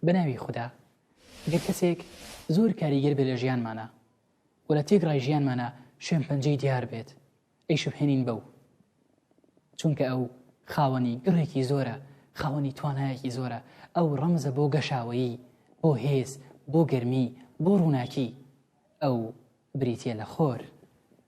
بەناوی خودا گەر کەسێک زۆر کاریگەر بێ لە ژیانمانە و لە تێک ڕای ژیانمانە شوێن پەنجەی دیار بێت ئەی شوهێنین بەو چونکە ئەو خاوەنی گڕێکی زۆرە خاوەنی توانایەکی زۆرە ئەو ڕەمزە بۆ گەشاوەیی بۆ هێز بۆ گەرمی بۆ ڕووناکی ئەو بریتە لە خۆر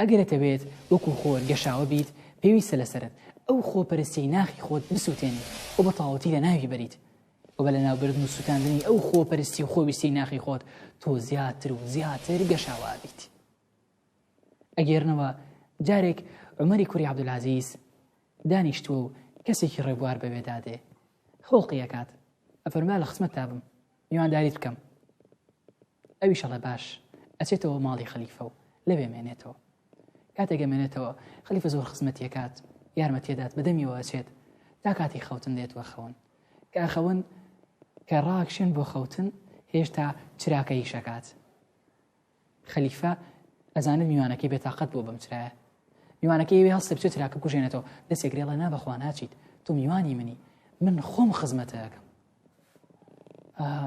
ئەگەر ئەتەوێت وەکو خۆر گەشاوە بیت پێویستە لەسەرت ئەو خۆپەرستیەی ناخی خۆت بسووتێنیت و بە تەواوەتی لە ناوی بەریت و بە لە ناوبردن و سووتاندنی ئەو خۆپەرستی و خۆویستی ناخی خۆت تۆ زیاتر و زیاتر گەشاوە بیت ئەگەرنەوە جارێک عمەری کوری عبدولازیز دانیشتووە و کەسێکی ڕێبوار بەوێدادێ خۆڵقیەکات ئەفەرما لە خسمەت تابم میوانداریت بکەم ئەویش ئەڵێ باش ئەچێتەوە ماڵی خەلیفە و لەوێ مێنێتەوە کاتێکە مێنێتەوە خەلیفە زۆر خزمەتیەکات یارمەتیدات بەدەمیەوە ئەچێت تا کاتی خەوتن دێت وە خەون کە ئەخەون کە ڕاکشێن بۆ خەوتن هێشتا چراکە یشەکات خەلیفە ئەزانم میوانەکەی بێتاقەت بۆ بەم چرایە میوانەکە ئەوێ هەڵسێ بچێت تراکە کوژێنێتەوە دەسێک رێڵە نا بەخوا ناچیت تۆ میوانی منی من خۆم خزمەتەکەم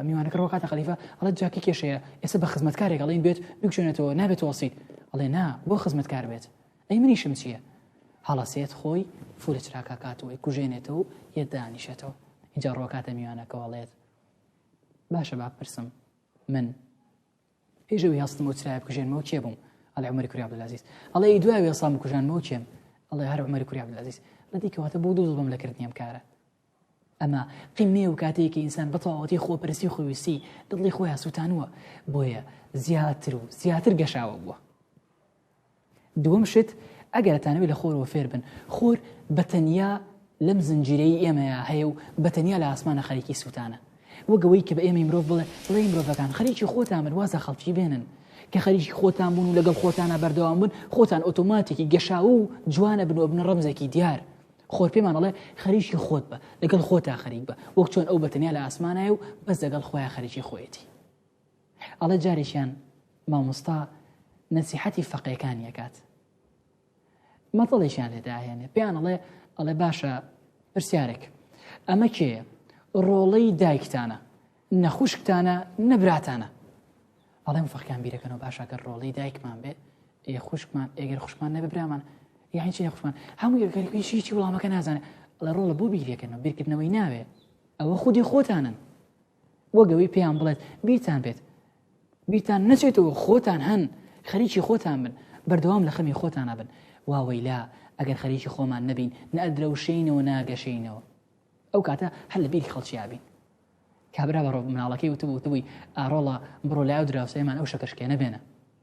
میوانەکە ڕۆکاتە خەلیفە ئەڵە جاکی کێشەیە ئێستا بە خزمەتکارێک ئەڵێن بێت بکشێنێتەوە نابێت وەسییت ئەڵێ نا بۆ خزمەتکار بێت ئەی منیشم چییە هەڵەسێت خۆی فولە چراکە کاتەوەی کوژێنێتەوە و یەت دانیشێتەوە اینجا ڕۆکاتە میوانەکەەوەڵێت باشە با پرسم من پێش ئەوی هەستمەوە چرای بکوژێنمەوە کێ بووم ئەڵێ عمەری کوری عبدالعزیز ئەڵێ ئی دوای وێسام بکوژانمەوە کێم ئەڵێ هەر عمەری کوری عبدالعزیز لە دیکەواتە بۆ دوو دڵم لەکردنیم کارە ئەمە قیمێ و کاتێکی ئینسان بەتەواوەتی خۆپەرسی خۆویستی دڵی خۆیان سووتانوە بۆیە زیاتر و زیاتر گەشاوە بووە دووەم شت، ئەگەر ئەتانەوێت لە خۆرەوە فێر بن، خۆر بە تەنیا لەم زنجیرەی ئێمەیا هەیە و بە تەنیا لە ئاسمانا خەریکی سووتانە. وەک ئەوەی کە بە ئێمەی مرۆڤ بڵێ، ڵێی مرۆڤەکان خەریکی خۆتان بن واز لە خەڵکی بێنن. کە خەریکی خۆتان بوون و لەگەڵ خۆتانا بەردەوام بن، خۆتان ئۆتۆماتێکی گەشاوە و جوان ئەبن و ئەبنە ڕەمزێکی دیار. خۆر پێمان ئەڵێ خەریکی خۆت بە، لەگەڵ خۆتا خەریک بە، وەک چۆن ئەو بە تەنیا لە ئاسمانایە و بەس لەگەڵ خۆیا خەریکی خۆیەتی. ئەڵێ جارێکیان مامۆستا نەسیحەتی فەقێکانی ئەکات مەتەڵێکیان لێدا ئەهێنێ پێیان ئەڵێ ئەڵێ باشە پرسیارێک ئەمە کێ ڕۆڵەی دایکتانە نەخوشکتانە نەبراتانە ئەڵێم فەقیان بیرەکەنەوە باشەکە ڕۆڵی دایکمان بێ ئێ خوشکمان ئێگەر خوشمان نەبێ برامان یاین چی خوشمان هەموو یەکەرکیشی چی وڵامەکە نازانێت لە ڕۆڵە بۆ بیرەکەنەوە بیرکردنەوەی ناوێ ئەوە خودی خۆتانن وەگەوەی پێیان بڵێت بیرتان بێت بیرتان نەچێتەوە خۆتان هەن خەریکی خۆتان بن بەردەوام لە خەمی خۆتان نابن واوەیلا ئەگەر خەریکی خۆمان نەبین نەدرەوشینەوە ناگەشینەوە ئەو کاتە هەر لە بیری خەڵکیابین کابرا بە ڕۆ مناڵەکەی وتبوو وتبووی ئارۆڵە بڕۆ لای و دراوسێمان ئەو شەکەشکێنە بێنە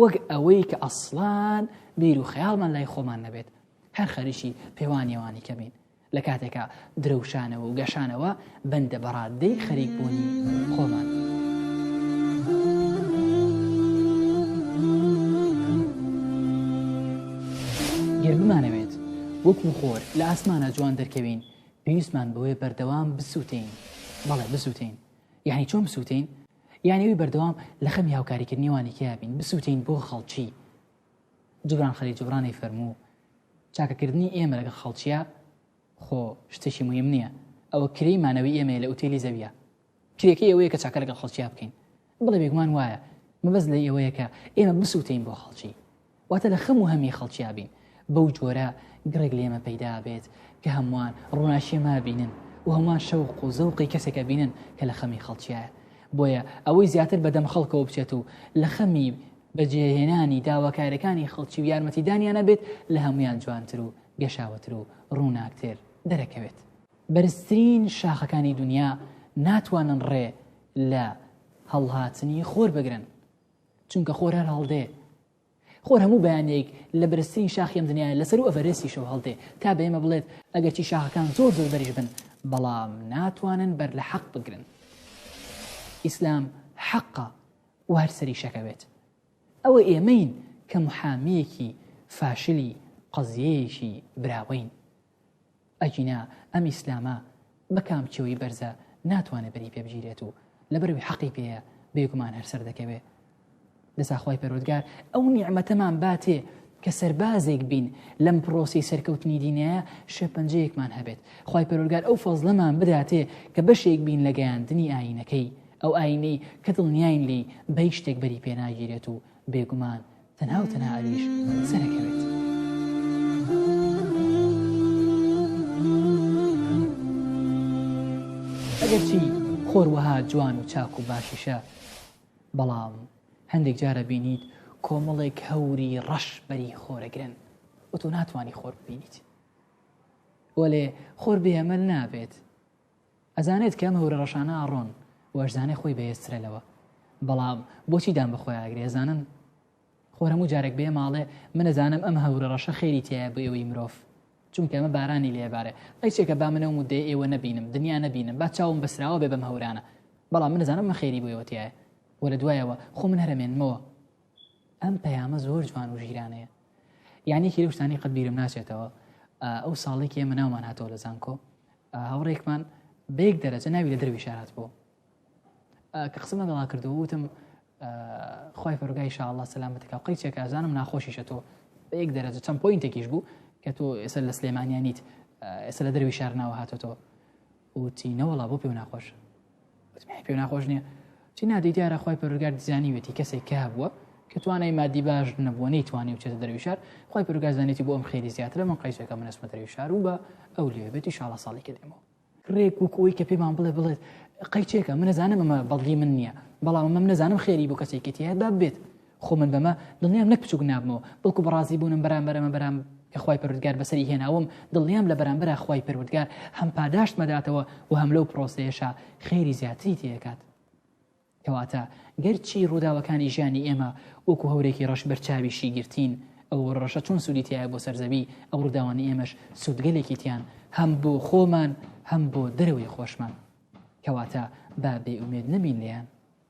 وەک ئەوەی کە ئەسڵان بیر و خەیاڵمان لای خۆمان نەبێت هەر خەریکی پێوانیێوانی کەمین لە کاتێکا درەوشانەوە و گەشانەوە بەندە بەڕاددەی خەریک بوونی خۆمان. گەر بمانەوێت وەکو خۆر لە ئاسمانە جوان دەرکەوین پێویستمان بەوەی بەردەوام بسووتین بەڵێ بسووتین یانی چۆن بسوتێین یانی ئەوی بەردەوام لە خەمی هاوکاریکردنی وانی کیا بین بسوتێین بۆ خەڵکی جبران خەلی جبرانی فەرموو چاکەکردنی ئێمە لەگەڵ خەڵکیە خۆ شتێکی مهم نییە ئەوە کرێی مانەوەی ئێمە لە ئوتێلی زەویە کرێکەی ئەوەیە کە چاکە لەگەڵ خەڵکییا بکەین بڵێ بێگومان وایە مەبەست لە ئەوەیە کە ئێمە بسووتین بۆ خەڵکی واتە لە خەم و هەمی خەڵکیا بین، بەو جۆرە گڕێک لێمە پەیدا بێت کە هەمووان ڕووناکیی ما بینن و هەمووان شەوق و زەوقی کەسێک ئەبینن کە لە خەمی خەڵکیایە. بۆیە ئەوەی زیاتر بە دەم خەڵکەوە بچێت و لە خەمی بەجێهێنانی داواکارییەکانی خەڵکی و یارمەتیدانیانە بێت، لە هەموویان جوانتر و گەشاوەتر و ڕووناکتر دەرەکەوێت. بەرزترین شاخەکانی دونیا ناتوانن ڕێ لە هەڵهاتنی خۆر بگرن، چونکە خۆر هەر هەڵدێ خۆر هەموو بەیانێک لە بەرزترین شاخی ئەم دنیاە لەسەر و ئەڤەرێسیشەوە هەڵدێ تا بە ئێمە بڵێت ئەگەرچی شاخەکان زۆر زۆر بەریش بن بەڵام ناتوانن بەر لە حەق بگرن ئیسلام حەقە و هەر سەری شەکەوێت ئەوە ئێمەین کە محامیەکی فاشلی قەزیەیەکی براوەین ئەگینا ئەم ئیسلامە بە کام کێوی بەرزە ناتوانێت بەری پێ بگیرێت و لەبەروی حەقی پێەیە بێگومان هەر سەر دەکەوێ لەساخوای پەرۆدگار ئەو نیعممەتەمان باتێ کە سەربازێک بین لەم پرۆسی سەرکەوتنی دینەیە شێپەنجەیەکمان هەبێت خی پەرۆگار ئەو فەزلەمان بداتێ کە بەشێک بین لە گەیاندنی ئاینەکەی ئەو ئاینەی کە دڵنیاین لی بە هیچ شتێک بەری پێناگیرێت و بێگومان تەنها و تەنها عەلیش سەرەکەوێت. ئەگەرچی خۆر وەها جوان و چاک و باشیشە بەڵام هەندێک جارە بینیت کۆمەڵێک هەوری ڕەش بەری خۆرەگرن و تۆ ناتوانانی خۆر ببینیت وەلێ خۆر بێمەل نابێت ئەزانێت کە ئەم هەورە ڕەشانە ئاڕۆن و ئەشزانێ خۆی بەهێزترە لەوە بەڵام بۆچی دان بەخۆیاگرێ ئەزانن خۆر هەموو جارێک بێ ماڵێ منەزانم ئەم هەورە ڕەشە خێری تایە بۆ ئێوەی مرۆڤ چونکە ئەمە بارانی لێبارێ ئەیچێکە با منە و مدەی ئێوە نەبینم دنیا نەبینم با چاوم بەسراوە بێ بەم هەورانە بەڵام منەزانم مە خێری بۆ ئێوەتیایە وە لە دوایەوە خۆ من هەرمێنمەوە ئەم پەیامە زۆر جوان و ژیرانەیە یانێکی لەو شتانی قەت بیرم ناچێتەوە ئەو ساڵێکی ئێمە ناومان هاتەوە لە زانکۆ هاوڕێکمان بەیەک دەرەجە ناوی لە دەروی شارات بۆ کە قسمە دەڵا کردو وتم خی پرگای شاءله سەلامەتەکە قەی چێکە ئەزانم ناخۆشیشە تۆ بەیەک دەرەجە چەند پوینتێکیش بوو کە تۆ ئێستا لە سلێمانیانیت ئێستا لە دەروی شار ناوە هاتۆتەوە وتی نەوەڵا بۆ پێ ناخۆشە پێ ناخۆش نییە چی نادەی دیارە خۆی پەرگار دیزانانیوێتی کەسێک کە هەبووە کە توانای مادی باش نەبووە نەیتوانانی و چێتە دەروی شار خۆی پرگازانێتی بۆ ئەم خێری زیاترە من قیسەکە منەسمە دەروی شار و بە ئەو لێبێتی شاڵە ساڵی کردێمەوە ڕێک وکۆی کە پێمان بڵێ بڵێت قەیچێکە منەزانم ئەمە بەڵگی من نییە بەڵام ئەمەم نەزانم خێری بۆ کەسێکێتی هەیە باب بێت خۆ من بەمە دڵنیام نەک بچووک نابمەوە بەڵکو بەڕازی بوونم بەرامبەر ئەمە بەرام کە خوای پەروردگار بەسەری هێناوم دڵنیام لە بەرامبەرا خوای پەروردگار هەم پاداشت مەداتەوە و هەم لەو پرۆسەیەشا خێری زیاتری تێکات کەواتە گەرچی ڕووداوەکانی ژیانی ئێمە وەکو هەورێکی ڕەش بەرچاوی شیگرتین ئەو ڕەشە چۆن سوودی تایە بۆ سەرزەوی ئەو ڕووداوانی ئێمەش سوودگەلێکی تیان هەم بۆ خۆمان هەم بۆ دەرەوەی خۆشمان کەواتە با بێ ئومێد نەبین لێیان